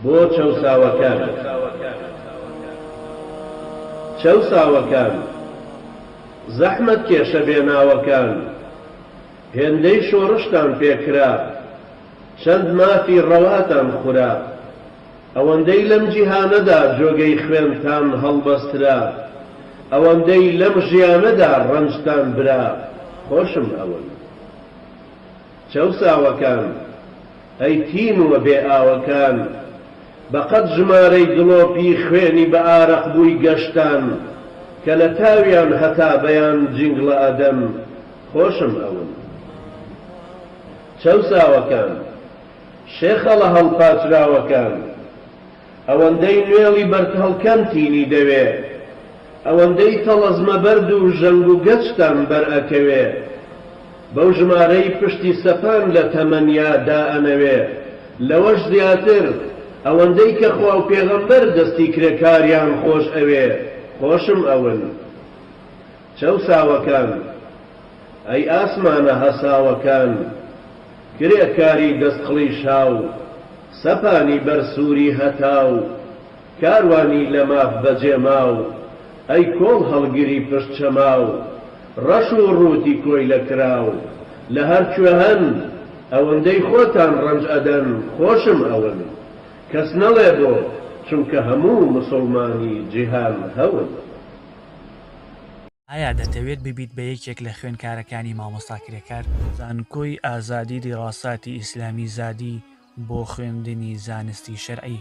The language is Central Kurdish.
بۆ چەوساوەکان چەوساوەکان، زەحمەتکێشە بێناوەکان، هێندەی شۆڕشتان پێکرا، چەند مافی ڕەواتان خورا، ئەوەندەی لەم جیهانەدا جۆگەی خوێنتان هەڵبەسترا، ئەوەندەی لەم ژیانەدا ڕەنجتان برا، خۆشم ئەون چەوساوەکان. ئەی تینووە بێ ئاوەکان، بە قەد ژمارەی دڵۆپی خوێنی بە ئارەق بووی گەشتان، کە لە تاویان هەتا بەیان جینگڵە ئەدەن، خۆشم ئەون. چەوساوەکان، شێخەڵە هەڵپاچراوەکان، ئەوەندەی نوێڵی بەردهەڵکەم تینی دەوێ ئەوەندەی تەڵەزمە بەرد و ژەنگ و گەچتان بەرئەکەوێ بەو ژمارەی پشتی سەپان لە تەمەنیا دائەنەوێ لەوەش زیاتر ئەوەندەی کە خوا و پێغەمبەر دەستی کرێکاریان خۆش ئەوێ خۆشم ئەون چەوساوەکان، ئەی ئاسمانە هەساوەکان، کرێکاری دەست قڵیشاو، سەپانی بەر سووری هەتاو، کاروانی لە ماف بەجێماو، ئەی کۆڵ هەڵگری پشت چەماو، ڕەش و ڕووتی کۆیلە کراو، لە هەر کوێ هەن، ئەوەندەی خۆتان ڕەنج ئەدەن، خۆشم ئەون. کەس نەڵێ بۆ، چونکە هەموو موسوڵمانی جیهان هەون. ئایا دەتەوێت ببیت بە یەکێک لە خوێنکارەکانی مامۆستا کرێکار؟ زانکۆی ئازادی دیراساتی ئیسلامی زادی بۆ خوێندنی زانستی شەرعی.